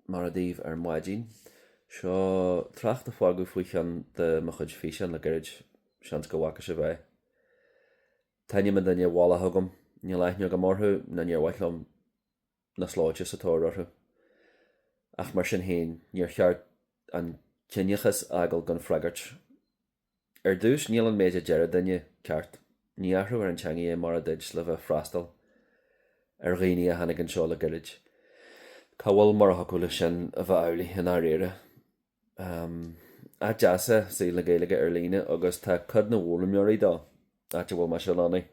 Mora daoibh ar maidin. Seo trácht a fágadh faoi cheann de mo chuid físeán le gairid, seans go bhfaca sibh é. Tá ainm an duine folaithe agam, níl aithne agam orthu ná níor mhaith liom na slóite sa tóir orthu. Ach mar sin féin, níor cheart an ciníochas a fhágáil gan freagairt. Ar dtús, níl an méid a deir an duine ceart. Ní athrófar an teangaidh mar a dúirt le bheith ag freastal ar dhaoine a tháinig anseo le goirid. Cá bhfuil mar a thiocfadh leis sin a bheith amhlaidh i ndáiríre? Áit deas é saol na Gaeilge ar líne agus tá cuid na bhfoghlaimeoirí dó, áit a bhfuil mise lonnaithe,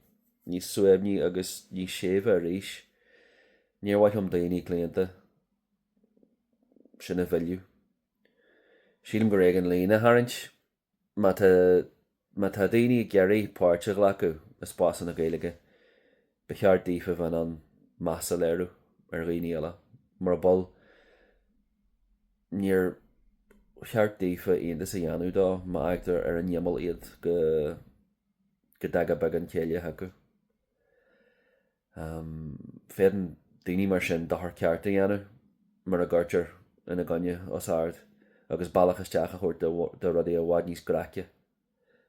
níos suaimhní agus níos séimhe arís. Níor mhaith liom daoine claonta sin a mhilleadh. Sílim gur éigean líne a tharraingt má tá má tá daoine ag iarraidh páirt a ghlacadh i spásanna Gaeilge, ba cheart daofa bheith in ann meas a léiriú ar dhaoine eile, mura bhfuil, níor cheart daofa iontas a dhéanamh dó má fhágtar ar an imeall iad go go dtaga beagán céille chucu. Um, féadann daoine mar sin dochar ceart a dhéanamh mura gcuirtear ina gcoinne os ard agus bealach isteach a thabhairt do rudaí i bhfad níos gráice.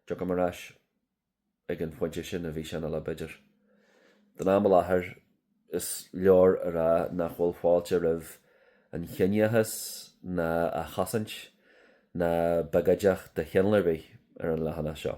Tiocfaidh mé ar ais ag an phointe sin i bhfíseán eile, b'fhéidir. Don am i láthair, is leor a rá nach bhfuil fáilte roimh an chiníochas ná a chosaint ná biogóideacht de chineál ar bith ar an leathanach seo.